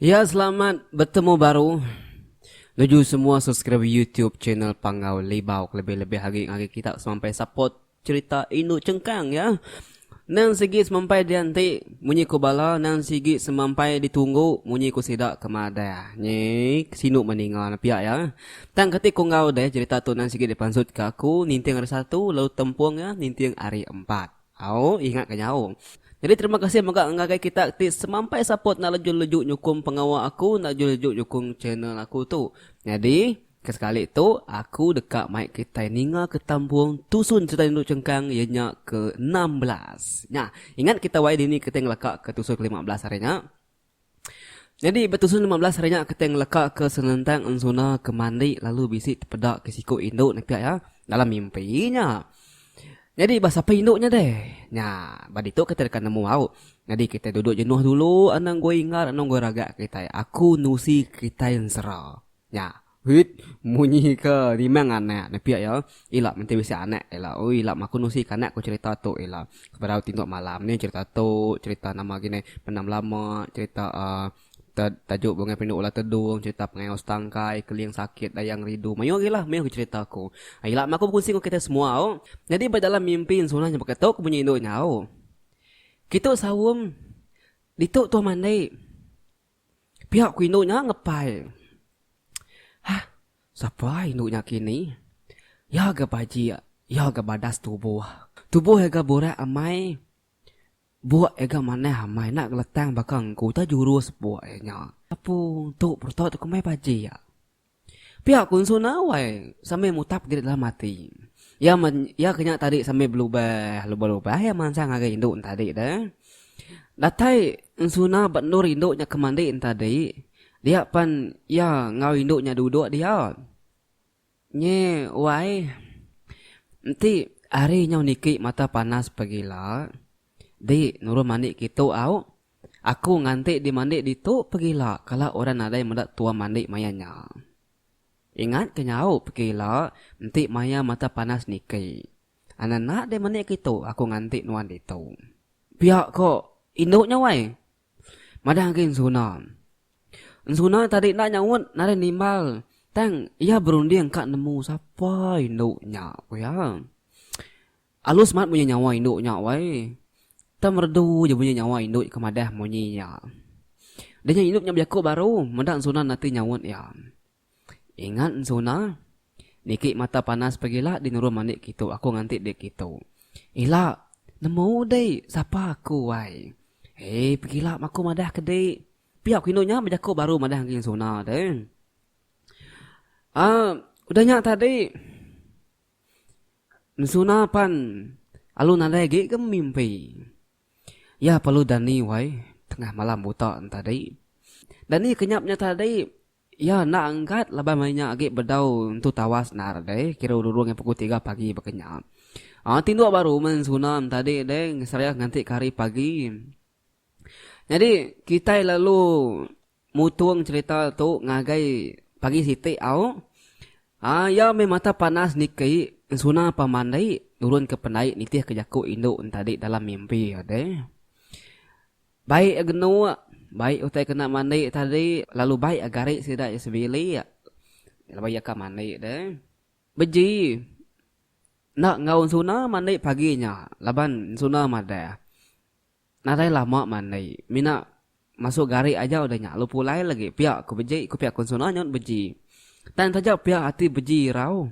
Ya selamat betemu baru nuju semua subscriber youtube channel panggau libau kelebih lebih agi ngagai kita semampai support. Cherita indu chengkang iya. Nang sigi semampai dianti munyi ku bala nang sigi semampai ditunggu munyi ku sida ke madah. Nyi sinu meh ninga ne pia iya. Tang kati ku enggau deh cherita tu nang sigi dipansut ke aku ninting hari satu lalu tempung iya ninting hari empat. Au ingat ke nyau. Nyadi terima kasih mega ngagai kita ti semampai sapot enda leju-leju nyukung pengawa aku enda leju-leju nyukung channel aku tu. Nyadi. Kesekali tu, aku deka mai kitai ninga ke tambung tusun sereta indu chengkang iya nya ke enam belas. Nya, ingat kita wai dini kitai ngelaka ke tusun ke lima belas ari nya? Nyadi ba tusun lima belas ari nya kitai ngelaka ke senentang ensuna ke mandi lalu bisi tepeda ke siku indu nepia iya dalam mimpi nya. Nyadi ba sapa indu nya deh? Nya, ba ditu kitai deka nemu au. Nyadi kitai duduk jenuh dulu anang goi ingat anang goi raga kitai. Aku nusi kitai ensera. Nya. Wit munyi ke rimang anak nepik iya, ila menti bisi anak ila. Oi ila maku nusi ke anak ku cerita tu ila. Sebedau tinduk malam ni cerita tu, cerita nama lagi ni benam lama, cerita uhh tajuk bungai pendu ulah tedung, cerita pengayau setangkai, keling sakit, dayang rindu. Mayuh lagi lah mayuh lagi cerita ku. Ila maku bekunsi enggau kitai semua o. Nyadi ba dalam mimpi Ensunah nya baka tu ku munyi indu nya o. Kitu saum ditu tuah mandi. Pia ku indu nya ngepai. Hah, sapa indu nya kini? Iya ga bajik, iya ga badas tubuh. Tubuh iya ga burak amai. Buk iya ga manah amai enda ngeletang baka engku utai jurus buk iya nya. Apu tu perutut ku meh bajik. Pia ku Ensu Nawai sambil mutap diri dalam ati. Iya iya kenya tadi sambil belubah, lubah-lubah iya mansang ngagai indu nya tadi dah. Datai Ensu Na ba endur indu nya ke mandi nya tadi, dia pan iya enggau indu nya duduk dia. Nyi Wai, enti hari nyau niki mata panas pegila, di nurun mandi kitu au. Aku nganti dimandi ditu pegila kala orang nadai meda tua mandi maya nya. Ingat ke nyau pegila enti maya mata panas niki. Ananak deh meni kitu aku nganti nuan ditu. Pia ko indu nya wai. Madah agi Ensuna. Ensuna tadi enda nyaut nadai nimbal tang iya berunding ka nemu sapa indu nya ku iya. Alus mat bunyi nyawa indu nya wai. Tang merdu ja bunyi nyawa indu ke madah munyi nya. Deh nya indu nya bejaku baru meda ensuna nati nyaut iya. Ingat ensuna, niki mata panas pegila di nurun mani kitu aku nganti dik kitu. Ila, nemu dik, sapa aku wai. Hei pegila maku madah ke dik. Pia ku indu nya bejaku baru madah enggi ensuna deh. Aaa udah nya tadi. Ensuna pan alu nadai agi ke memimpi. Iya perlu dani wai tengah malam buta tadi. Dani ke nyap nya tadi iya enda enggat laban maya nya agi bedau entu tawas nar deh kira urung ngan pukul tiga pagi baka nya. Aaa tinduk baru meh ensuna tadi deh seraya nganti ke hari pagi. Nyadi kitai lalu. Mutung cherita tu ngagai pagi siti au aa iya meh mata panas niki ensuna pamandai nurun ke pendai nitih ke jaku indu entadi dalam mimpi iya deh. Baik iya genuk baik utai kena mandi tadi lalu baik iya gari sida iya sebilik laban iya ka mandi deh. Beji enda enggau ensuna mandi pagi nya laban ensuna madah. Nadai lama mandi, mina masuk gari aja udah nya lu pulai lagi pia ku beji ku pia kun Suna nyut beji. Tan taja pia ati beji irau.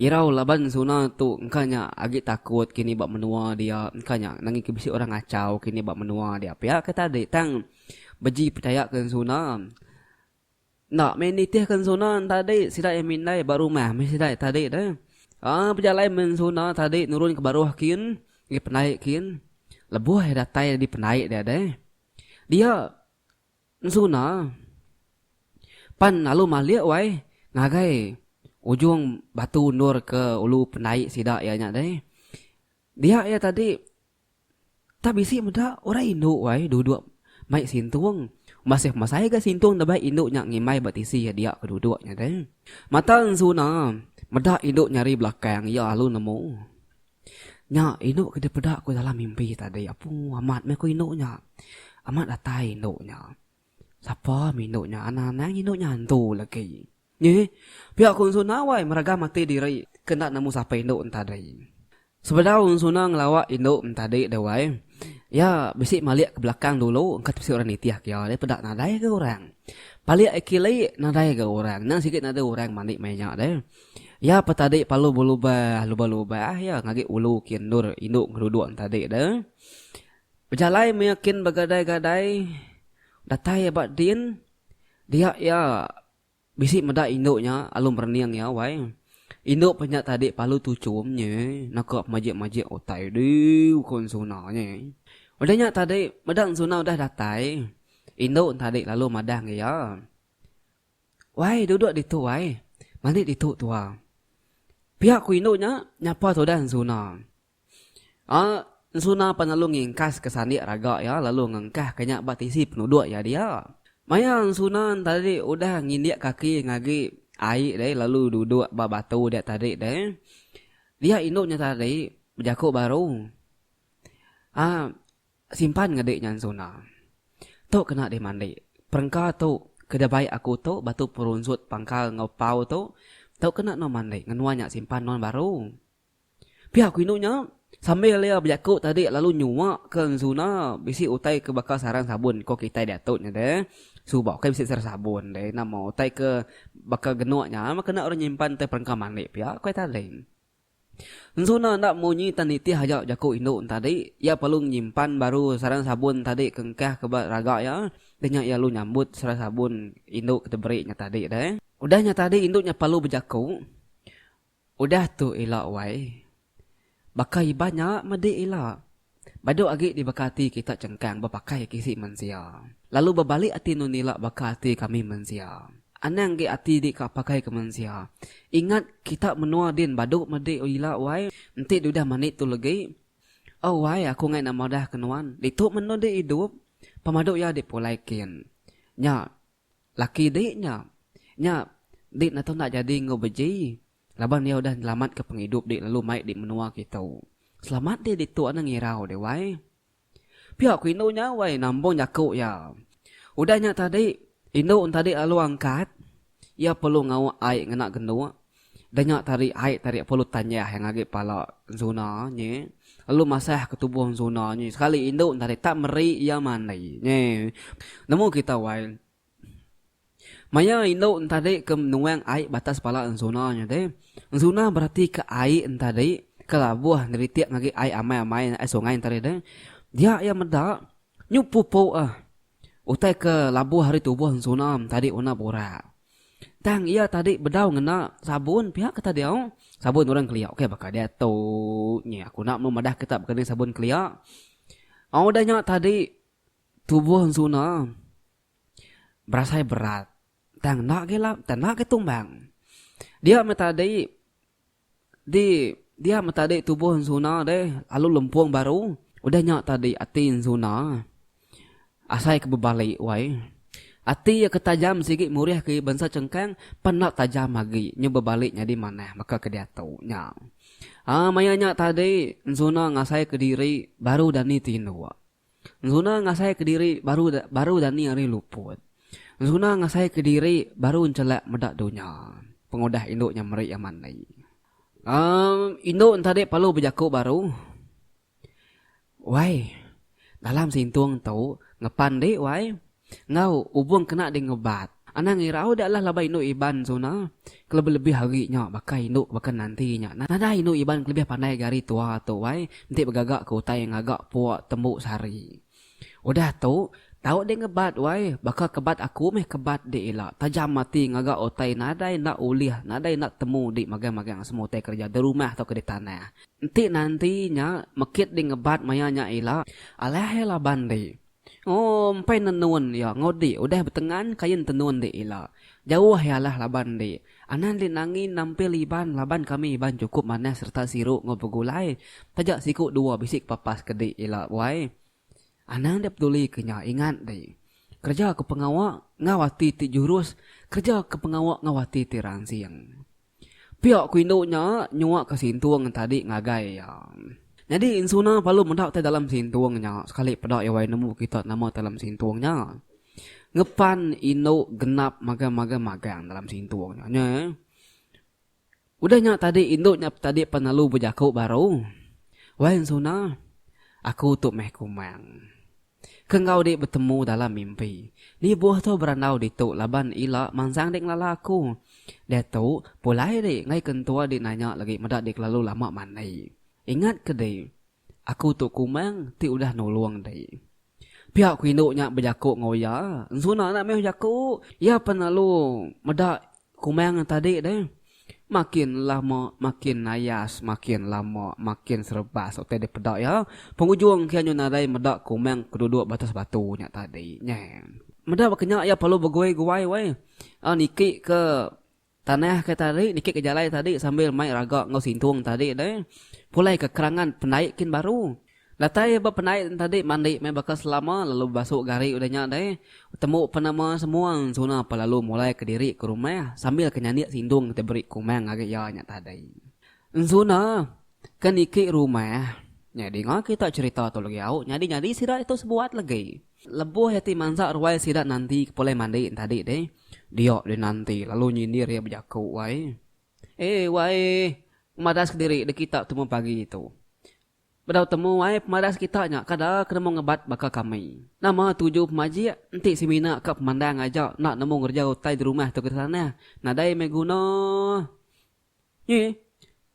Irau laban Suna tu engka nya agi takut kini ba menua dia engka nya nangin ke bisi orang ngachau kini ba menua dia pia ke tadi tang beji pechaya kun Suna. Enda mih nitihka ensuna entadi sida iya mindai ba rumah mih sida iya tadi deh. Aa bejalai mih ensuna tadi nurun ke baruh kin ngih pendai kin. Lebuh iya datai di pendai dia deh. Dia ensuna pan lalu malik wai ngagai ujung batu undur ke ulu pendai sida iya nya deh. Dia iya tadi. Tang bisi meda orang indu wai duduk mai sintung. Masih masai ga sintung ndabei indu nya ngimbai ba tisi iya dia ke duduk nya deh. Mata ensuna meda indu nyari belakang iya lalu nemu. Nya indu ke dipeda ku dalam mimpi tadi apu amat meh ku indu nya. Amat datai indu nya. Sapa meh indu nya anak anang indu nya antu legi. Nyi, pia ku Ensuna wai meraga mati diri ke enda nemu sapa indu entadi. Sebedau Ensuna ngelawa indu entadi deh wai, iya bisi malik ke belakang dulu engka tepisi orang nitih ke iya deh peda nadai ga orang. Palik iya kili nadai ga orang, endang sigi nadai orang mani maya nya deh. Iya pa tadi palu belubah lubah-lubah iya ngagi ulu ke endur indu ngeruduk entadi deh. Bejalai maya kin begadai-gadai datai iya ba din dia iya Bisi meda indu nya alu merening iya wai. Indu pe nya tadi palu tuchum nya naka pemajik-majik utai diu ko Ensuna nya. Udah nya tadi meda Ensuna udah datai, indu tadi lalu madang iya. Wai duduk ditu wai. Mani ditu tua. Pia ko indu nya nyapa tudah Ensuna. Aa, ensuna pan lalu ngingkaska sandik raga iya lalu ngengkahka nya ba tisi penuduk iya dia. Maya ensuna entadi udah ngindik kaki ngagi ai deh lalu duduk ba batu dia tadi deh, dia indu nya tadi bejaku baru. Aa, simpan ngedi nya ensuna. Tu kena dimandi. Perengka tu ke dibai aku tu batu perunsut pangkal enggau pau tu, tu kena nuan mandi ngena nuan nya simpan nuan baru. Pia ku indu nya. Sambil iya bejaku tadi lalu nyuaka Zuna bisi utai ke baka sarang sabun ko kitai diatu nya deh. Suba ukai bisi sarang sabun deh nama utai ke baka genuk nya meh kena orang nyimpan utai perengka mandi pia ku iya tadi. Zuna enda munyi tang nitih aja jaku indu nya tadi. Iya perlu nyimpan baru sarang sabun tadi ke engkah ke ba raga iya deh nya iya lalu nyambut sarang sabun indu ke diberi nya tadi deh. Udah nya tadi indu nya perlu bejaku. Udah tu ila wai. Baka iban nya medi ila. Badu agi di baka ati kita chengkang bepakai agi isi mensia. Lalu bebalik ati enun ila baka ati kami mensia. Anang agi ati di ka pakai ke mensia. Ingat kita menua din badu medi ila wai. Enti diudah mani tu legi. Oh wai aku ngai nak madah ke nuan. Ditu menu di idup. Pemadu iya dipulai kin. Nya. Laki di nya. Nya di natu enda jadi enggau beji laban iya udah nyelamatka pengidup di lalu mai di menua kitu. Selamat di ditu enda ngirau di wai. Pia ku indu nya wai nambung jaku iya. Udah nya tadi indu ntadi lalu angkat iya perlu ngauk ai ngena genduk Danya tari ai tari Apollo tanjah iya ngagi pala Zona nyi lalu masah ke tubuh Zona nyi sekali indu tadi tak meri iya mandi nyi nemu kita wai maya indu tadi ke nuang ai batas pala Zona nyi tadi Zona berati ke ai tadi ke labuh neritik ngagi ai amai amai ai sungai tadi deh dia iya meda nyu pupu ah utai ke labuh ari tubuh Zona tadi una burak. Tang iya tadi bedau ngena sabun pihak ke tadeu sabun orang kelia okey baka deto nyi aku enda melu madah kita baka ni sabun kelia au udah nya tadi tubuh ensuna berasai berat tang enda agi enda agi tumbang dia meh tadi Di dia meh tadi tubuh ensuna deh lalu lempung baru udah nya tadi ati ensuna asai ke bebali wai ati iya ke tajam sigi murih ke bansa chengkang pan enda tajam agi nyu bebali nyadi manah baka ke diatu nya aaa maya nya tadi ensuna ngasai ke diri baru dani tinduk. Enzuna ngasai kediri baru baru dani hari luput. Enzuna ngasai kediri baru enchelak meda dunya. Pengudah indu nya meri amat nei. Um indu entadi perlu bejaku baru. Wai. Dalam sintung tu ngepan di wai. Enggau, ubung kena ding ngebat. Anang irau dek lah laban indu Iban suna kelebih-lebih ari nya baka indu baka nanti nya. Nadai indu Iban kelebih pandai ga ari tua tu ai enti begaga ke utai ngaga puk tembu sehari. Udah tu, tau ding ngebat wai, baka kebat aku meh kebat dik ila tajam ati ngaga utai nadai enda ulih nadai enda temu dik magang-magang semua utai kerja di rumah tauka di tanah. Enti nanti nya mekit ding ngebat maya nya ila, alai laban dik. Empai nenun iya enggau dik udah betengan kain tenun dik ila. Jauh iya alah laban dik. Anang dik Nangi nampil Iban laban kami Iban chukup manah sereta siru enggau begulai. Taja siku dua bisi ke papas ke dik ila wai. Anang enda peduli ke nya ingat dik. Kereja ke pengawa enggau ati ti jurus, kereja ke pengawa enggau ati ti ransing. Pia ku indu nya nyuak ke sintung entadi ngagai iya. Nyadi Insuna palu meda utai dalam sintung nya sekali peda iya wai nemu kita nama dalam sintung nya. Ngepan indu genap magang-magang magang dalam sintung nya nya. Udah nya tadi indu nya tadi pan lalu bejaku baru, Wai Insuna, aku tu meh kumang. Ke enggau dik betemu dalam mimpi. Libuh tu berandau ditu laban ila mansang dik ngelala aku. Diatu pulai dik enggai ke entua dik nanya lagi meda dik kelalu lama mandi. Ingat ke dik. Aku tu kumang ti udah nulung dik. Pia ku indu nya bejako enggau iya. Ensuna enda meh bejako. Iya pen lalu meda Kumang tadi deh. Makin lama makin nayas, makin lama makin serebas utai dipeda iya. Pengujung kian nyau nadai meda kumang ke duduk batas batu nya tadi. Nyeh. Meda baka nya iya perlu beguai-guai weh. A niki ke tanah ke tadi, niki ke jalai tadi sambil mai raga enggau sintung tadi deh. Pulai ke kerangan pendai kin baru. Datai ia ba penait entadi mandi meh baka selama lalu bebasu gari udah nya deh. Betembu pa nama semua ensuna pa lalu mulai ke diri ke rumah sambil ke nyandik sindung ke diberi kumang agi ia nya tadi. Ensuna ke niki rumah nya dinga kita cherita tu legi au nyadi nyadi sida itu sebuat legi. Lebuh ia ti mansa ruai sida nanti ke pulai mandi entadi deh. Dia dinanti lalu nyindir ia bejaku wai. Eh wai. Madas kediri deh kita tumu pagi tu. Bedau temu ai pemadas kita nya kada ke nemu ngebat baka kami. Nama tuju pemajik enti semina ka pemandang aja enda nemu ngereja utai di rumah tu ke ditanah nadai meh guna nyi.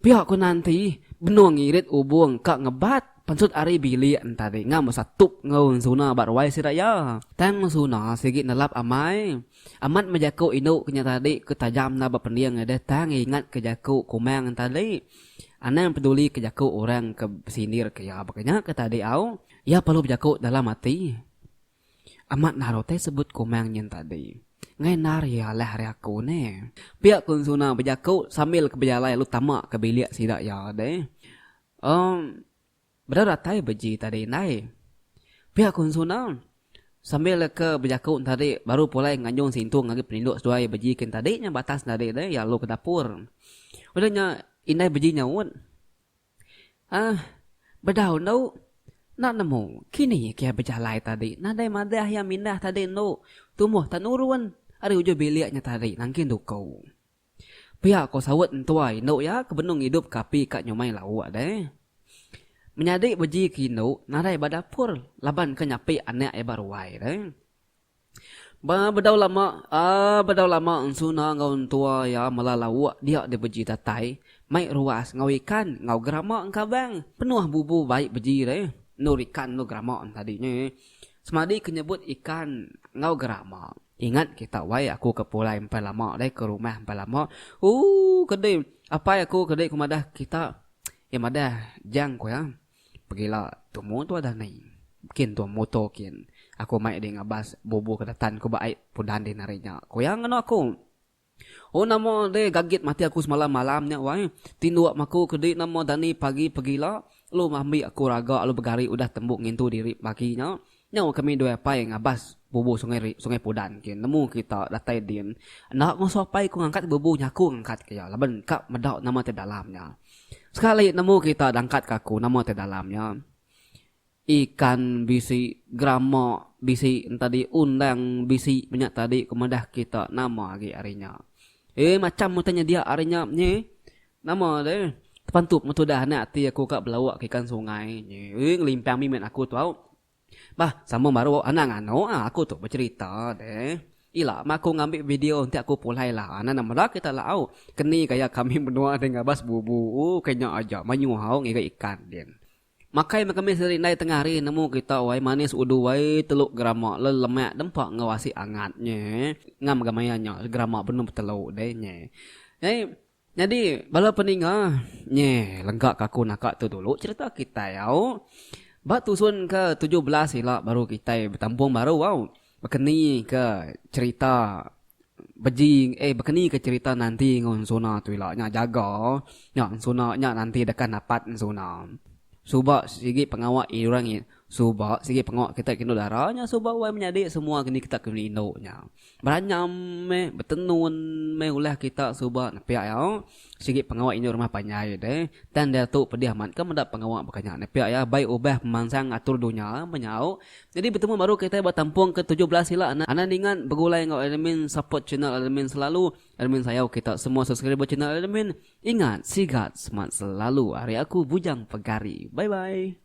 Pia ku Nanti benung ngirit ubung ka ngebat pensut ari bilik entari ngam besatup enggau Ensuna ba ruai sida iya. Tang Ensuna sigi nelap amai Amat mejaku indu ke nya tadi ke tajam enda bepending adah tang iya ingatka jaku Kumang enti ali anang pedulika jaku orang ke besindirka iya. Baka nya ke tadi au, iya perlu bejaku dalam ati. Amat naru utai sebut Kumang nyin tadi. Ngai endar iya alah ari aku ne. Pia Kun Suna bejaku sambilka bejalai lalu tama ke bilik sida iya deh. Em. Bedau datai beji tadi indai. Pia ku Ensu Nau sambil leka bejaku entadi baru pulai nganjung sintung agi peninduk seduai beji ke entadi nya batas entadi deh iya alu ke dapur. Udah nya indai beji nyaut. Ahh bedau endu enda nemu kini kiai bejalai tadi nadai madah iya mindah tadi endu tumoh tak nurun ari ujuh bilik nya tadi nangkin duku. Pia ko saut entua indu iya ke benung idup ke api ka nyumai lauk deh. Menyadi beji ke indu nadai ba dapur laban ke nyapi anak iya ba ruai deh. Ba bedau lama aaa bedau lama Ensuna enggau entua iya mela lauk dia di beji datai mai ruas enggau ikan enggau gerama engkabang penuh bubu baik beji deh. Endur ikan endur gerama tadi nya. Semadi ke nyebut ikan enggau gerama. Ingat kita wai aku ke pulai empai lama deh ke rumah empai lama ooh kedi apai aku kedi ku madah kita iya madah jang ku iya pegila tumu tu adah nei kin tu muto kin aku mai deh ngabas bubu ke datan ku ba ai pudan deh nari nya ku iya ngeno aku. Oh nama deh gagit mati aku semalam malam nya wai. Tinduk maku ke di nama dani pagi pegila lu ngambi aku raga lu begari udah tembu ngintu diri pagi nya. Nyau kami due apai ngabas bubu sungai ri sungai pudan kin nemu kita datai din. Enda ngasuh apai ku ngangkat bubu nyaku ngangkat ke iya laban ka meda nama ti dalam nya. Sekali nemu kita dangkat ka aku nama ti dalam nya. Ikan bisi, grama bisi entadi undang bisi menya tadi ku madah kita nama agi ari nya. Ey macham utai nyedia ari nya nyi. Nama deh tepantu pengetu udah anak ati aku ka belawa ke ikan sungai nyi. Ey ngelimpang mih met aku tau. Bah sambung baru anak nganu ah aku tu becerita deh. Ila mah aku ngambi video enti aku pulai lah anak ne meda kita lah au. Keni gaya kami menua deh ngabas bubu. Ooh ke nya aja mayuh au ngiga ikan din. Makai meh kami seri ndai tengah hari nemu kita wai manis udu wai teluk gerama lalu lemak dempa enggau asi angat nye ngam mega maya nya gerama benung betelu deh nye nyai nyadi bala peninga nye lega ka aku naka tu dulu cerita kitai au ba tusun ke tujuh belas ila baru kitai betampung baru au. Bekeni ke cerita beji eh bekeni ke cerita nanti enggau ensuna tu ila nya jaga nya ensuna nya nanti deka napat ensuna. Suba sigi pengawa orang ngi suba sigi pengawa kita ke indu dara nya suba wai menyadi semua ke ni kita ke indu nya. Beranyam meh betenun meh ulah kita suba nepiak iya. Sigi pengawa indu rumah panjai deh tang diatu pedih amat ke meda pengawa baka nya nepiak iya bai ubah pemansang atur dunya menyau nyadi betemu baru kitai ba tampung ke tujuh belas ila anak ningat begulai enggau admin support channel admin selalu admin sayau kita semua subscriber channel admin ingat sigat semat selalu ari aku bujang pegari bye bye.